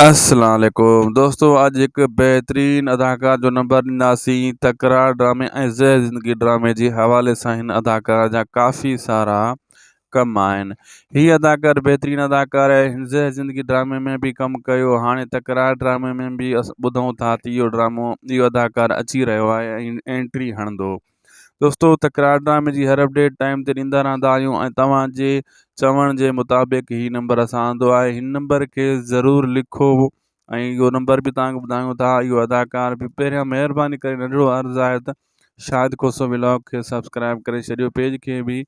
السلام عليڪم دوستو اڄ هڪ بهترين اداڪار جو نمبر ڏينداسين تڪرار ڊرامي ۽ زهر زندگي ڊرامي جي حوالي سان هن اداڪار جا ڪافي سارا ڪم آهن هي اداڪار بهترين اداڪار آهي هن زهر زندگي ڊرامي ۾ به ڪم ڪيو هاڻي تڪرار ڊرامي ۾ به اسان ٻڌون ٿا ته اهو ڊرامو اهو اداڪار اچي رهيو آهي ۽ انٽري هڻندو دوستو تڪرار ڊرامي جي هر اپڊيٽ ٽائيم تي ڏيندا رهندا آهيون ۽ توهان جي چوڻ جي مطابق هي نمبر اسان آندو آهي هن نمبر کي ضرور لکو ۽ اهو نمبر به توهان کي ٻڌايون ٿا اهو اداڪار به پهريان مهرباني ڪري ننڍڙو عرض آهي ته شاهد کوسو ولاگ کي سبسڪرائب ڪري ڇڏيو پيج کي به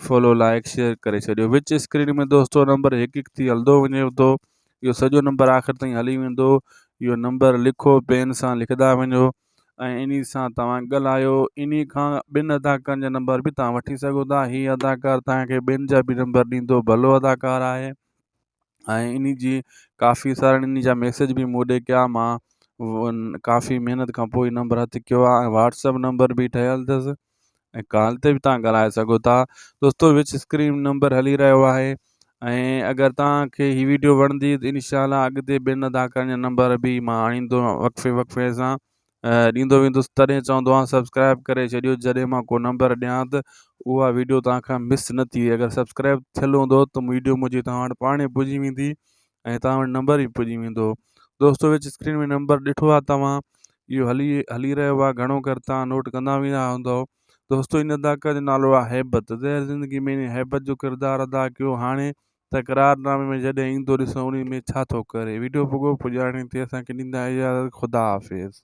فالو لائق شيئر ڪري ڇڏيو وچ اسڪرين ۾ دوستو نمبر هڪ هڪ ٿي هلندو وڃي ٿو اهو سڄو نمبر آخر تائين هلي ويندو اهو نمبر لکو پين سان لکندا وڃو ۽ انهي سان توهان ڳالهايو انهي کان ٻن اداڪارن جا نمبر به توهان وٺي سگهو ٿا هي اداڪار توهان کي ٻين جا به نمبر ڏيندو ڀلو اداڪار آهي ۽ انهي جي ڪافي سارن انهي جا ميسج به مون ڏي ڪيا مان ڪافي محنت کان پوء نمبر هٿ ڪيو آهي ۽ واٽسپ نمبر به ٺهيل اٿس ۽ ڪال تي به تان ڳالهائي سگهو ٿا دوستو وچ اسڪرين نمبر هلي رهيو آهي ۽ اگر تان کي هي ويڊيو وڻندي ته انشاءالله اڳتي ٻين اداڪارن جا نمبر به مان آڻيندو وقفي وقفي سان ڏيندو ويندس تڏهن چوندو آهيان سبسڪرائب ڪري ڇڏيو جڏهن مان ڪو نمبر ڏيان ته اها ويڊيو تان کان مس نه ٿي اگر سبسڪرائب ٿيل هوندو ته ويڊيو منهنجي تان وٽ پاڻ پڄي ويندي ۽ توهان وٽ نمبر به پڄي ويندو دوستو وچ اسڪرين ۾ نمبر ڏٺو آهي توهان اهو هلي هلي رهيو آهي گهڻو ڪر توهان نوٽ ڪندا ويندا هوندو دوستو ان اداڪار جو نالو آهي هيبت زهر زندگي ۾ ان هيبت جو ڪردار ادا ڪيو هاڻي تڪرار نامي ۾ جڏهن ايندو ڏسو ان ۾ ڇا ٿو ڪري ويڊيو پڳو پڄاڻي تي اسان کي ڏيندا اجازت خدا حافظ